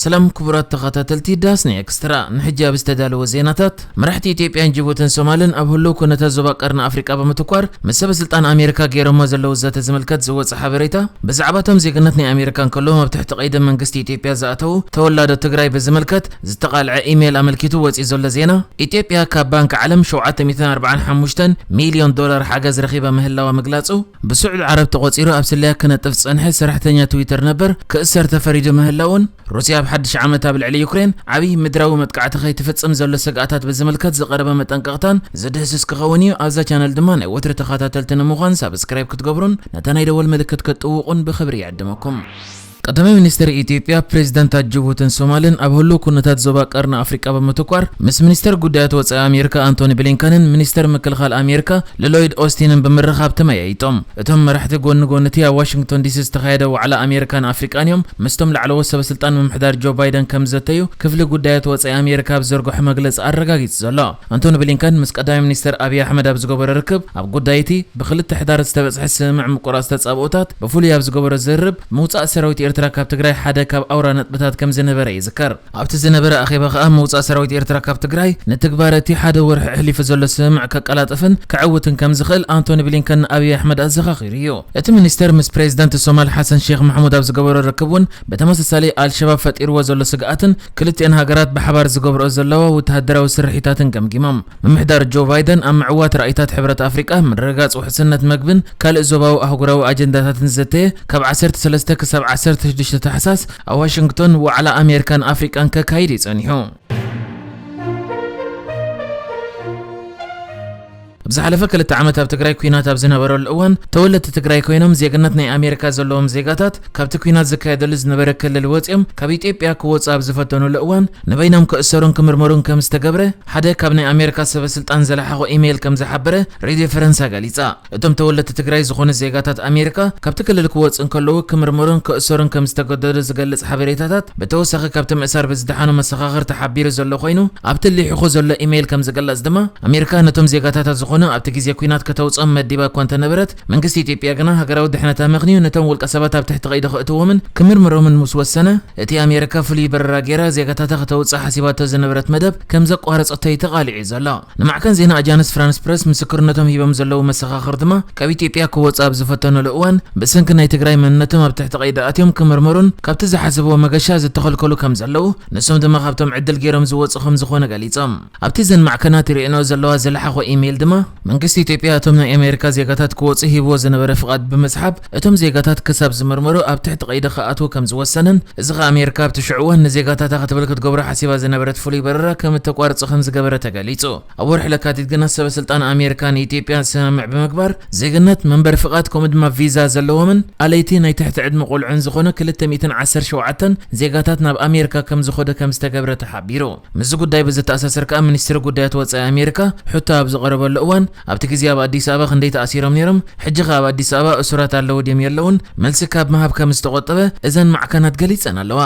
ሰላም ክቡራት ተኸታተልቲ ዳስኒ ኤክስትራ፣ ንሕጂ ኣብ ዝተዳለወ ዜናታት፣ መራሕቲ ኢትዮጵያን ጅቡትን ሶማልን ኣብ ህሉው ኩነታት ዞባ ቀርኒ ኣፍሪቃ ብምትኳር ምስ ሰበ ስልጣን ኣሜሪካ ገይሮሞ ዘለዉ ዘተ ዝምልከት ዝወጸ ሓበሬታ ብዛዕባ እቶም ዜግነት ናይ ኣሜሪካ እንከለዎም ኣብ ትሕቲ ቀይዲ መንግስቲ ኢትዮጵያ ዝኣተዉ ተወላዶ ትግራይ ብዝምልከት ዝተቓልዐ ኢሜል ኣመልኪቱ ወጺኡ ዘሎ ዜና ኢትዮጵያ ካብ ባንኪ ዓለም ሸውዓተ ሚእትን ኣርብዓን ሓሙሽተን ሚልዮን ዶላር ሓገዝ ረኺባ ምህላዋ ምግላጹ ብስዑድ ዓረብ ተቖጺሩ ኣብ ስለያ ክነጥፍ ዝጸንሐ ሰራሕተኛ ትዊተር ነበር ክእሰር ተፈሪዱ ምህላዉን፣ ሩስያ ኣብ ሓድሽ ዓመት ኣብ ልዕሊ ዩክሬን ዓቢ ምድራዊ መጥቃዕቲ ከይትፍጽም ዘሎ ስግኣታት ብዝምልከት ዝቐረበ መጠንቀቕታን ዝድህስስ ክኸውን እዩ። ኣብዛ ቻነል ድማ ናይ ወትሪ ተኻታተልቲ ንምዃን ሳብስክራይብ ክትገብሩን ነታ ናይ ደወል ምልክት ክትጥውቑን ብኽብሪ ይዕድመኩም። ቀዳማይ ሚኒስትር ኢትዮጵያ፣ ፕሬዚዳንታት ጅቡትን ሶማልን ኣብ ህሉው ኩነታት ዞባ ቀርኒ ኣፍሪቃ ብምትኳር ምስ ሚኒስተር ጉዳያት ወፃኢ ኣሜሪካ ኣንቶኒ ብሊንከንን ሚኒስተር ምክልኻል ኣሜሪካ ልሎይድ ኦስቲንን ብምርኻብ ተመያይጦም። እቶም መራሕቲ ጎኒ ጎኒ'ቲ ኣብ ዋሽንግቶን ዲሲ ዝተኻየደ ዋዕላ ኣሜሪካን ኣፍሪቃን እዮም ምስቶም ላዕለዎት ሰበስልጣን ምምሕዳር ጆ ባይደን ከምዝዘተዩ ክፍሊ ጉዳያት ወፃኢ ኣሜሪካ ኣብ ዝዘርግሖ መግለፂ ኣረጋጊፁ ዘሎ። ኣንቶኒ ብሊንከን ምስ ቀዳማይ ሚኒስተር ኣብይ ኣሕመድ ኣብ ዝገበሮ ርክብ፣ ኣብ ጉዳይ'ቲ ብክልተ ሕዳር ዝተበጽሐ ስምምዕ ምቁራጽ ተጻብኦታት ብፍሉይ ኣብ ዝገበሮ ዝርርብ፣ ምውጻእ ሰራዊት ኤርትራ ካብ ትግራይ ሓደ ካብ ኣውራ ነጥብታት ከምዝነበረ ይዝከር። ኣብ'ቲ ዝነበረ ኣኼባ ከኣ ምውጻእ ሰራዊት ኤርትራ ካብ ትግራይ፣ ንትግባረ'ቲ ሓደ ወርሒ ኣሕሊፉ ዘሎ ስምምዕ ከቀላጥፍን ከዐውትን ከምዝኽእል ኣንቶኒ ብሊንከን ንኣብይ ኣሕመድ ኣዘኻኺሩ'ዩ። እቲ ሚኒስተር ምስ ፕረዚደንት ሶማል ሓሰን ሼኽ ማሕሙድ ኣብ ዝገበሮ ርክብ'ውን ብተመሳሳሊ ኣልሸባብ ፈጢርዎ ዘሎ ስግኣትን ክልቲኤን ሃገራት ብሓባር ዝገብርኦ ዘለዋ ውተሃደራዊ ስርሒታትን ገምጊሞም። ምምሕዳር ጆ ባይደን ኣብ ምዕዋት ራኢታት ሕብረት ኣፍሪቃ፣ ምርግጋጽ ውሕስነት መግብን ካልእ ዞባዊ ኣህጉራዊ ኣጀንዳታትን ዝዘተየ ካብ ዓሰርተ ሰለስተ ክሳብ ዓሰርተ ሽዱሽተ ታሕሳስ ኣብ ዋሽንግቶን ዋዕላ ኣሜሪካን ኣፍሪቃን ከካይድ እዩ ጸኒሑ። ኣብ ዝሓለፈ ክልተ ዓመት ኣብ ትግራይ ኲናት ኣብ ዝነበረሉ እዋን ተወለድቲ ትግራይ ኮይኖም ዜግነት ናይ ኣሜሪካ ዘለዎም ዜጋታት ካብቲ ኲናት ዝካየደሉ ዝነበረ ክልል ወፂኦም ካብ ኢትዮጵያ ክወፁ ኣብ ዝፈተኑሉ እዋን ንበይኖም ክእሰሩን ክምርመሩን ከም ዝተገብረ ሓደ ካብ ናይ ኣሜሪካ ሰበስልጣን ዝለሓኾ ኢሜይል ከም ዝሓበረ ሬድዮ ፈረንሳ ገሊፃ። እቶም ተወለድቲ ትግራይ ዝኾኑ ዜጋታት ኣሜሪካ ካብቲ ክልል ክወፁ እንከለዉ ክምርመሩን ክእሰሩን ከም ዝተገደዱ ዝገልፅ ሓበሬታታት ብተወሳኺ ካብቲ ምእሳር ብዝደሓኑ መሰኻኽር ተሓቢሩ ዘሎ ኮይኑ፣ ኣብቲ ሊሒኹ ዘሎ ኢመይል ከም ዝግለጽ ድማ፣ ኣሜሪካ ነቶም ዜጋታታ ዝኾኑ ኣብቲ ግዜ ኲናት ከተውጽኦም መዲባ እኳ እንተነበረት፣ መንግስቲ ኢትዮጵያ ግና ሃገራዊ ድሕነት ኣመኽንዩ ነቶም ውልቀሰባት ኣብ ትሕቲ ቀይዲ ከእትዎምን ክምርምሮምን ምስ ወሰነ፣ እቲ ኣሜሪካ ፍሉይ በረራ ገይራ ዜጋታታ ከተውጽእ ሓሲባቶ ዝነበረት መደብ ከም ዘቋረጸቶ'ዩ ተቓሊዑ ዘሎ። ንማዕከን ዜና ኣጃንስ ፍራንስ ፕረስ ምስክርነቶም ሂቦም ዘለዉ መሰኻኽር ድማ ካብ ኢትዮጵያ ክወጹ ኣብ ዝፈተኑሉ እዋን ብሰንኪ ናይ ትግራይ መንነቶም ኣብ ትሕቲ ቀይዲ ኣትዮም ክምርመሩን ካብቲ ዝሓሰብዎ መገሻ ዝተኸልከሉ ከም ዘለዉ ንሶም ድማ ካብቶም ዕድል ገይሮም ዝወጹ ከም ዝኾኑ ገሊጾም። ኣብቲ እዘን ማዕከናት ይርእየንኦ ዘለዋ ዝለሓኾ ኢሜይል ድማ መንግስቲ ኢትዮጵያ እቶም ናይ ኣሜሪካ ዜጋታት ክወጹ ሂብዎ ዝነበረ ፍቓድ ብምስሓብ እቶም ዜጋታት ክሳብ ዝምርመሩ ኣብ ትሕቲ ቀይዲ ክኣትዉ ከም ዝወሰነን፣ እዚ ከኣ ኣሜሪካ ኣብቲ ሽዑ እዋን ንዜጋታታ ክትብል ክትገብሮ ሓሲባ ዝነበረት ፍሉይ በረራ ከም እተቋርጽ ከም ዝገበረ ተገሊጹ። ኣብ ወርሒ ለካቲት ግና ሰበስልጣን ኣሜሪካ ንኢትዮጵያ ስምምዕ ብምግባር ዜግነት፣ መንበሪ ፍቓድ ከምኡ ድማ ቪዛ ዘለዎምን ኣለይቲ ናይ ትሕቲ ዕድመ ቆልዑን ዝኾኑ ክልተ ሚእትን ዓሰርተ ሸውዓተን ዜጋታት ናብ ኣሜሪካ ከም ዝኸዱ ከም ዝተገብረ ተሓቢሩ። ምስዚ ጉዳይ ብዘተኣሳስር ከኣ ሚኒስትሪ ጉዳያት ወጻኢ ኣሜሪካ ሕቶ ኣብ ዝቐረበሉ እዋን፣ ኣብቲ ግዜ ኣብ ኣዲስ ኣበባ ክንደይ ተኣሲሮም ኔሮም ሕጂ ከ ኣብ ኣዲስ ኣበባ እሱራት ኣለዉ ድዮም የለዉን መልሲ ካብ ምሃብ ከም ዝተቆጠበ እዘን ማዕከናት ገሊጸን ኣለዋ።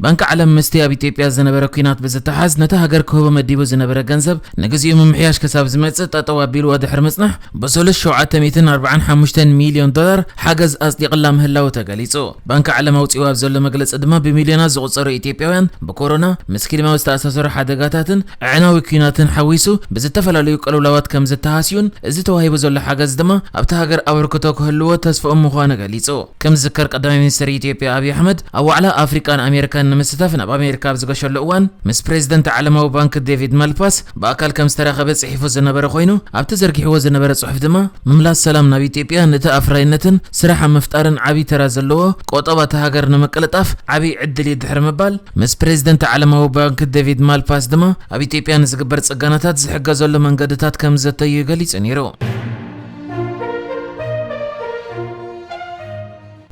ባንኪ ዓለም ምስቲ ኣብ ኢትዮጵያ ዝነበረ ኲናት ብዝተሓዝ ነታ ሃገር ክህቦ መዲቡ ዝነበረ ገንዘብ ንግዚኡ ምምሕያሽ ክሳብ ዝመጽእ ጠጠው ኣቢልዎ ድሕሪ ምጽናሕ ብሰሉስ ሸውዓተ ሚእትን ኣርብዓን ሓሙሽተን ሚልዮን ዶላር ሓገዝ ኣጽዲቕላ ምህላዉ ተገሊጹ። ባንኪ ዓለም ኣውጺእዎ ኣብ ዘሎ መግለጺ ድማ ብሚልዮናት ዝቑጸሩ ኢትዮጵያውያን ብኮሮና፣ ምስ ክሊማዊ ዝተኣሳሰሩ ሓደጋታትን ኣዕናዊ ኲናትን ሓዊሱ ብዝተፈላለዩ ቅልውላዋት ከምዝተሃስዩን እዚ ተዋሂቡ ዘሎ ሓገዝ ድማ ኣብታ ሃገር ኣበርክቶ ክህልዎ ተስፍኦም ምዃኑ ገሊጹ። ከም ዝዝከር ቀዳማይ ሚኒስተር ኢትዮጵያ ኣብዪ ኣሕመድ ኣብ ዋዕላ ኣፍሪቃን ኣሜሪካን ንምስታፍ ናብ ኣሜሪካ ኣብ ዝገሸሉ እዋን ምስ ፕሬዚደንት ዓለማዊ ባንኪ ዴቪድ ማልፓስ ብኣካል ከም ዝተራኸበ ጽሒፉ ዝነበረ ኮይኑ፣ ኣብቲ ዘርጊሕዎ ዝነበረ ጽሑፍ ድማ፣ ምምላስ ሰላም ናብ ኢትዮጵያ ንቲ ኣፍራይነትን ስራሕ ኣብ ምፍጣርን ዓብይ ተራ ዘለዎ ቆጠባ እታ ሃገር ንምቅልጣፍ ዓብይ ዕድል እዩ ድሕሪ ምባል፣ ምስ ፕሬዚደንት ዓለማዊ ባንኪ ዴቪድ ማልፓስ ድማ ኣብ ኢትዮጵያ ንዝግበር ጽገናታት ዝሕገዘሉ መንገድታት ከም ዝዘተዩ ገሊጹ ነይሩ።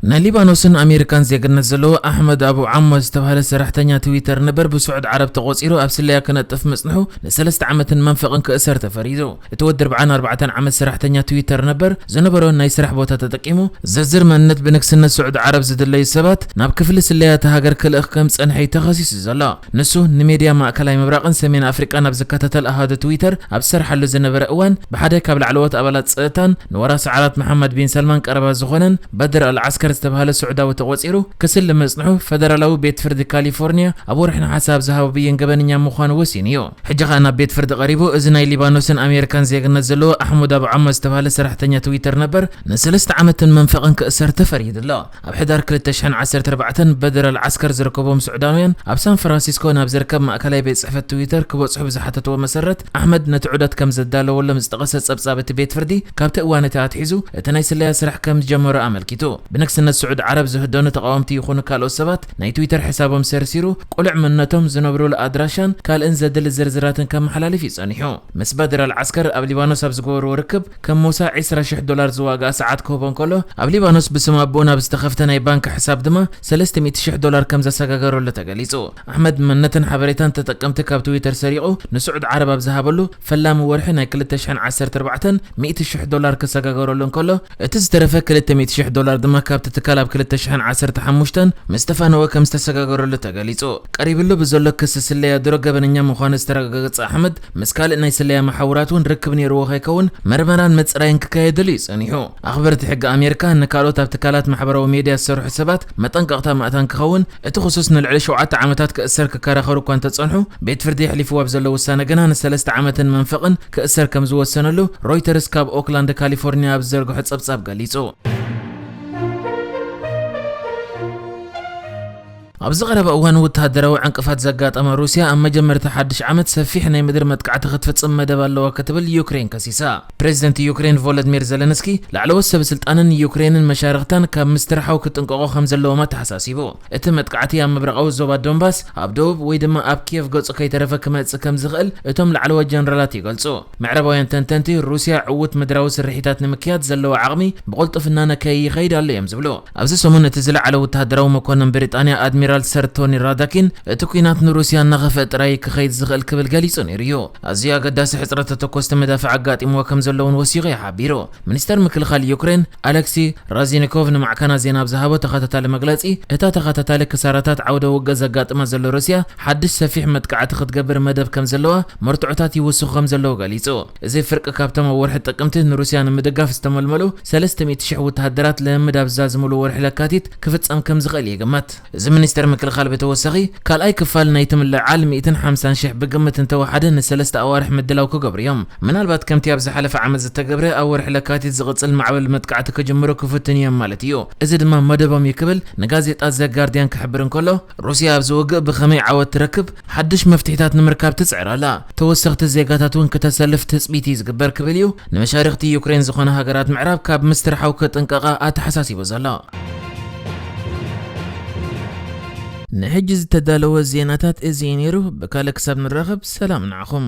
ናይ ሊባኖስን ኣሜሪካን ዜግነት ዘለዎ ኣሕመድ ኣቡ ዓሞ ዝተባህለ ሰራሕተኛ ትዊተር ነበር ብስዑድ ዓረብ ተቖጺሩ ኣብ ስለያ ክነጥፍ ምጽንሑ ንሰለስተ ዓመትን መንፈቕን ክእሰር ተፈሪዱ። እቲ ወዲ ኣርብዓን ኣርባዕተን ዓመት ሰራሕተኛ ትዊተር ነበር ዝነበሮ ናይ ስራሕ ቦታ ተጠቂሙ፣ ዝርዝር መንነት ብንግስነት ስዑድ ዓረብ ዝድለዩ ሰባት ናብ ክፍሊ ስለያ እታ ሃገር ክልእኽ ከም ዝጸንሐ'ዩ ተኸሲሱ ዘሎ። ንሱ ንሜድያ ማእከላይ ምብራቕን ሰሜን ኣፍሪቃን ኣብ ዝከታተል ኣሃዱ ትዊተር ኣብ ዝሰርሓሉ ዝነበረ እዋን፣ ብሓደ ካብ ላዕለዎት ኣባላት ጸጥታን ንወራሲ ዓራት መሓመድ ቢን ሳልማን ቀረባ ዝኾነን በድር ኣል-ዓስከር ዝተባህለ ስዑዳዊ ተቖጺሩ ክስሊ ምጽንሑ ፈደራላዊ ቤት ፍርዲ ካሊፎርንያ ኣብ ወርሒ ነሓሰ ኣብ ዝሃቦ ብይን ገበነኛ ምዃኑ ወሲኑ'ዩ። ሕጂ ከኣ ናብ ቤት ፍርዲ ቀሪቡ። እዚ ናይ ሊባኖስን ኣሜሪካን ዜግነት ዘለዎ ኣሕሙድ ኣቡ ዓማ ዝተባህለ ሰራሕተኛ ትዊተር ነበር፣ ንሰለስተ ዓመትን መንፈቕን ክእሰር ተፈሪዱ'ሎ። ኣብ ሕዳር ክልተ ሽሕን ዓሰርተ ኣርባዕተን በደራል ዓስከር ዝርከቦም ሱዕዳውያን ኣብ ሳን ፍራንሲስኮ ናብ ዝርከብ ማእከላይ ቤት ጽሕፈት ትዊተር ክበጽሑ ብዝሓተትዎ መሰረት ኣሕመድ ነቲ ዑደት ከም ዘዳለወሎም ዝጠቐሰ ጸብጻብ እቲ ቤት ፍርዲ ካብቲ እዋን እቲ ኣትሒዙ እቲ ናይ ስለያ ስራሕ ከም ዝጀመሮ ኣመልኪቱ። ብንግስነት ስዑድ ዓረብ ዝህደኑ ተቓወምቲ ይኹኑ ካልኦት ሰባት ናይ ትዊተር ሕሳቦም ሰርሲሩ ቅሉዕ መንነቶም፣ ዝነብሩሉ ኣድራሻን ካልእን ዘድሊ ዝርዝራትን ከመሓላልፍ እዩ ጸኒሑ። ምስ በደራል ዓስከር ኣብ ሊባኖስ ኣብ ዝገበርዎ ርክብ፣ ከም ሞሳ ዕስራ ሽሕ ዶላር ዝዋግኣ ሰዓት ክህቦ እንከሎ፣ ኣብ ሊባኖስ ብስም ኣቦኡ ናብ ዝተኸፍተ ናይ ባንክ ሕሳብ ድማ ሰለስተ ሚእቲ ሽሕ ዶላር ከም ዘሰጋገረሉ ተገሊጹ። ኣሕመድ መንነትን ሓበሬታን ተጠቀምቲ ካብ ትዊተር ሰሪቑ ንስዑድ ዓረብ ኣብ ዝሃበሉ ፈላሚ ወርሒ ናይ ክልተ ሽሕን ዓሰርተ ኣርባዕተን ሚእቲ ሽሕ ዶላር ክሰጋገረሉ እንከሎ፣ እቲ ዝተረፈ ክልተ ሚእቲ ሽሕ ዶላር ድማ ካብቲ ትካል ኣብ ክልተ ሽሕን ዓሰርተ ሓሙሽተን ምስ ተፋነወ ከም ዝተሰጋገረሉ ተገሊጹ። ቀሪብሉ ብዘሎ ክሲ ስለያ ድሮ ገበነኛ ምዃኑ ዝተረጋገገጸ ኣሕመድ፣ ምስ ካልእ ናይ ስለያ መሓውራት እውን ርክብ ነይርዎ ከይከውን መርመራን ምጽራይን ክካየደሉ እዩ ጸኒሑ። ኣኽበርቲ ሕጊ ኣሜሪካ ንካልኦት ኣብ ትካላት ማሕበራዊ ሜድያ ዝሰርሑ ሰባት መጠንቀቕታ ማእታን ክኸውን፣ እቲ ክሱስ ንልዕሊ ሸውዓተ ዓመታት ክእሰር ክከራኸሩ እኳ እንተጸንሑ፣ ቤት ፍርዲ የሕሊፍዎ ኣብ ዘሎ ውሳነ ግና ንሰለስተ ዓመትን መንፈቕን ክእሰር ከም ዝወሰነሉ ሮይተርስ ካብ ኦክላንድ ካሊፎርንያ ኣብ ዝዘርግሖ ጸብጻብ ገሊጹ። ኣብዚ ቀረባ እዋን ወተሃደራዊ ዕንቅፋት ዘጋጠማ ሩስያ ኣብ መጀመርታ ሓድሽ ዓመት ሰፊሕ ናይ ምድሪ መጥቃዕቲ ክትፍጽም መደብ ኣለዋ ክትብል ዩክሬን ከሲሳ። ፕረዚደንት ዩክሬን ቮሎድሚር ዘለንስኪ ላዕለዎት ሰበስልጣንን ዩክሬንን መሻርኽታን ካብ ምስትርሓው ክጥንቀቑ ከምዘለዎም ኣተሓሳሲቡ። እቲ መጥቃዕቲ ኣብ ምብራቓዊ ዞባ ዶንባስ፣ ኣብ ደቡብ ወይ ድማ ኣብ ኪየቭ ገጹ ከይተረፈ ክመጽእ ከምዝኽእል እቶም ላዕለዎት ጀነራላት ይገልጹ። ምዕራባውያን ተንተንቲ ሩስያ ዕዉት ምድራዊ ስርሒታት ንምክያድ ዘለዋ ዓቕሚ ብቕልጡፍና ነከይይኸይድ ኣሎ እዮም ዝብሉ። ኣብዚ ሰሙን እቲ ዝለዓለ ወተሃደራዊ መኮነን ብሪጣንያ ኣድሚራል ሰር ቶኒ ራዳኪን እቲ ኲናት ንሩስያ እናኸፍአ ጥራይ እዩ ክኸይድ ዝኽእል ክብል ገሊጹ ነይሩ እዩ። ኣዝዩ ኣገዳሲ ሕጽረት ተተኮስቲ መዳፍዕ ኣጋጢምዎ ከም ዘሎ'ውን ወሲኹ እዩ ሓቢሩ። ሚኒስተር ምክልኻል ዩክሬን ኣለክሲ ራዚኒኮቭ ንማዕከናት ዜና ኣብ ዝሃቦ ተኸታታሊ መግለጺ እታ ተኸታታሊ ክሳራታት ዓውደ ውግእ ዘጋጥማ ዘሎ ሩስያ ሓድሽ ሰፊሕ መጥቃዕቲ ክትገብር መደብ ከም ዘለዋ መርትዖታት ይውስኹ ከም ዘለዉ ገሊጹ። እዚ ፍርቂ ካብቶም ኣብ ወርሒ ጥቅምቲ ንሩስያ ንምድጋፍ ዝተመልመሉ ሰለስተ ሚእቲ ሽሕ ወተሃደራት ልምምድ ኣብ ዝዛዝምሉ ወርሒ ለካቲት ክፍጸም ከም ዝኽእል ይግመት። እዚ ሚኒስተር ምክልኻል ብተወሳኺ፣ ካልኣይ ክፋል ናይቲ ምልዕዓል ሚእትን ሓምሳን ሽሕ ብግምት እንተወሓደ ንሰለስተ ኣዋርሕ ምድላው ክገብሩ እዮም። ምናልባት ከምቲ ኣብ ዝሓለፈ ዓመት ዝተገብረ፣ ኣብ ወርሒ ለካቲት ዝቕጽል ማዕበል መጥቃዕቲ ክጅምሩ ክፍትኑ እዮም ማለት እዩ። እዚ ድማ መደቦም እዩ ክብል ንጋዜጣ ዘ ጋርድያን ክሕብር እንከሎ፣ ሩስያ ኣብዚ ውግእ ብኸመይ ዓወት ትረክብ ሓድሽ መፍትሒታት ንምርካብ ትጽዕር ኣላ። ተወሰኽቲ ዜጋታት እውን ክተሰልፍ ትጽቢት እዩ ዝግበር ክብል እዩ ንመሻርኽቲ ዩክሬን ዝኾና ሃገራት ምዕራብ ካብ ምስትርሓው ክጥንቀቓ ኣተሓሳሲቡ ዘሎ። ንሕጂ ዝተዳለወ ዜናታት እዚ እዩ ነይሩ። ብካልእ ክሳብ ንራኸብ ሰላም ንዓኹም።